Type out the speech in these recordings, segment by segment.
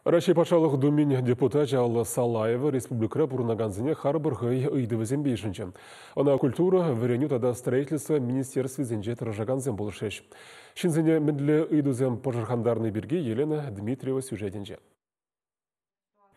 Раҫҫей Патшалӑх Думин депутачӗ Алла Салаева республикӑра пурӑнакансене харпӑр хӑй ыйтӑвӗсемпе йышӑнчӗ. Ӑна культура, вӗренӳ тата строительство министерствисенче тӑрӑшакансем пулӑшрӗҫ. Ҫынсене мӗнле ыйтусем пӑшӑрхантарни пирки Елена Дмитриева сюжетӗнче.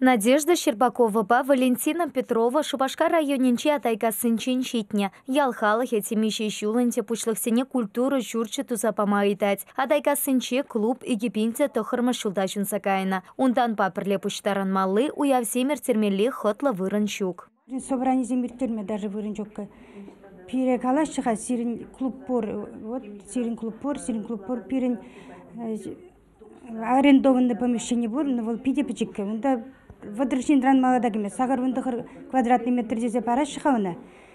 Надежда Щербаковӑпа Валентина Петрова Шупашкар районӗнчи Атайкассинчен ҫитнӗ. Ял халӑхӗ темиҫе ҫул ӗнтӗ пуҫлӑхсене культура ҫурчӗ туса пама ыйтать. Атайкассинче клуб икӗ пин те тӑххӑрмӗш ҫулта ҫунса кайнӑ. Унтанпа пӗрле пуҫтарӑнмалли уявсем ирттермелли хӑтлӑ вырӑн ҫук. Собранисем ирттерме даже вырӑн ҫук. Пире калаҫҫӗ-ха, сирӗн клуб пур, вот сирӗн клуб пур, сирӗн клуб пур, пирӗн арендованное помещение пур, но вӑл питӗ пӗчӗккӗ. Унта вӑтӑр ҫынран малта кӗмест. Сахӑр вун тӑхӑр квадратный метр тесе параҫҫӗ-ха ӑна.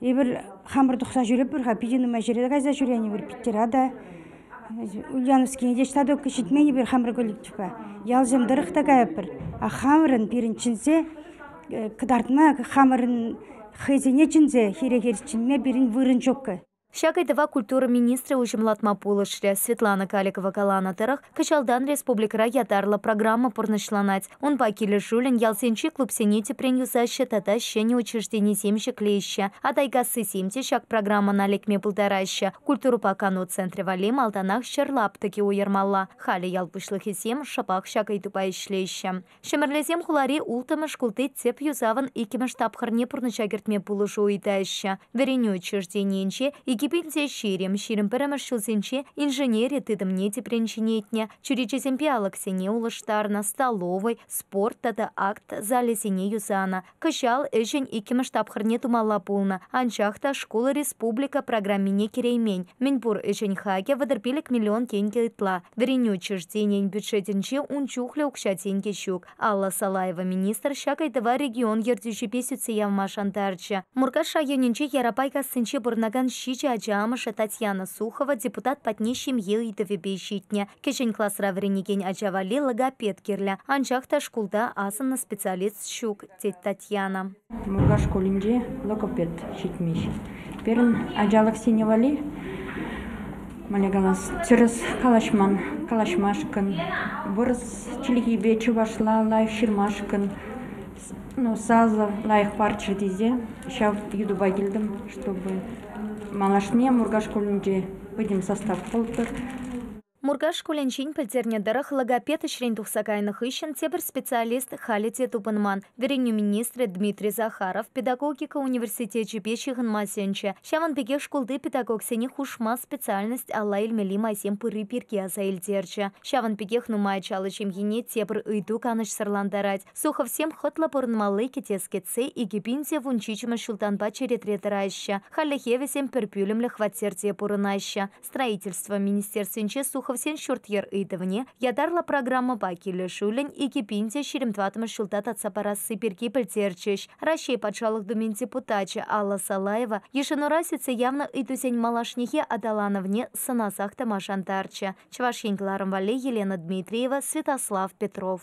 Эпир хамӑр тухса ҫӳреппӗр-ха, питӗ нумай ҫӗре кайса ҫӳренӗпӗр Питтӑра та, Ульяновскине те ҫтатӑк ҫитмен эпир хамӑр коллективпа. Ялсем тӑрӑх та кайӑпӑр. А хамӑрӑн пирӗн чӗнсе кӑтартма, хамӑрӑн хӑйсене чӗнсе хире-хир чӗнме пирӗн вырӑн ҫуккӑ. Ҫак ыйтӑва культура министрӗ уҫӑмлатма пулӑшрӗ. Светлана Каликова каланӑ тӑрӑх, кӑҫалтан республикӑра ятарлӑ программа пурнӑҫланать. Унпа килӗшӳллӗн ялсенчи клубсене тӗпрен юсаҫҫӗ тата ҫӗнӗ учрежденисем ҫӗклеҫҫӗ. Атайкассисем те ҫак программӑна лекме пултараҫҫӗ. Культурӑпа кану центрӗ валли малтанах ҫӗр лаптӑкӗ уйӑрмалла. Халӗ ял пуҫлӑхӗсем шӑпах ҫак ыйтупа ӗҫлеҫҫӗ. Ҫӗмӗрлесем хулари улттӑмӗш шкулти тӗп юсавӑн иккӗмӗш тапхӑрне пурнӑҫа кӗртме пулӑшу ыйтаҫҫӗ. Вӗренӳ учрежденийӗнче икӗ пиллсе ҫирӗм, ҫирӗм пӗрремӗш ҫулсенче инженери тытӑмне тӗпрен ҫӗнетнӗ, чӳречесемпе алӑксене улӑштарнӑ, столовӑй, спорт тата акт залӗсене юсанӑ. Кӑҫал ӗҫӗн иккӗмӗш тапхӑрне тумалла пулнӑ, анчах та шкул республика программине кӗреймен. Мӗнпур ӗҫӗн хакӗ вӑтӑр пилӗк миллион тенкӗ ытла. Вӗренӳ учрежденийӗн бюджетӗнче ун чухлӗ укҫа-тенкӗ ҫук. Алла Салаева министр ҫак ыйтӑва регион ертӳҫипе сӳтсе явма шантарчӗ. Муркаш районӗнчи Ярапайкассинче пурӑнакан ҫичӗ ача амӑшӗ Татьяна Сухова депутат патне ҫемье ыйтӑвӗпе ҫитнӗ. Кӗҫӗн класра вӗренекен ача валли логопед кирлӗ, анчах та шкулта асӑннӑ специалист ҫук, тет Татьяна. Муркаш шкулӗнче логопед ҫитмест. Пирӗн ачалӑхсене валли, мӗнле калас, тӗрӗс калаҫман, калаҫмашкӑн, вырӑс чӗлхипе чӑвашла лайӑх ҫырмашкӑн, ну, сасӑ лайӑх парччӑр тесе ҫав йытӑпа килтӗм, чтобы малашне Муркаш шкулӗнче пӗтӗм состав пултӑр. Муркаш шкулӗнчен пӗлтернӗ тӑрӑх, логопед ӗҫрен тухса кайнӑ хыҫҫӑн тепӗр специалист халӗ те тупӑнман. Вӗренӳ министрӗ Дмитрий Захаров педагогика университечӗпе ҫыхӑнма сӗнчӗ. Ҫавӑн пекех шкулти педагогсене хушма специальность алла илмелли майсем пырри пирки аса илтерчӗ. Ҫавӑн пекех нумай ачаллӑ ҫемьене тепӗр ыйту канӑҫсӑрлантарать. Суховсем хӑтлӑ пурӑнмалли кӗтес кӗтсе икӗ пин те вунҫичӗмӗш ҫултанпа черетре тӑраҫҫӗ. Хальлӗхе вӗсем пӗр пӳлӗмлӗ хваттерте пурӑнаҫҫӗ. Строительство министерствинче Суховсен ҫурт-йӗр ыйтӑвне ятарлӑ программӑпа килӗшӳллӗн икӗ пин те ҫирӗм тӑватмӗш ҫулта татса парасси пирки пӗлтерчӗҫ. Раҫҫей Патшалӑх Думин депутачӗ Алла Салаева йышӑнура сӳтсе явнӑ ыйтусен малашнехи аталанӑвне сӑнасах тӑма шантарчӗ. Чӑваш Ен кӑларӑм валли Елена Дмитриева, Святослав Петров.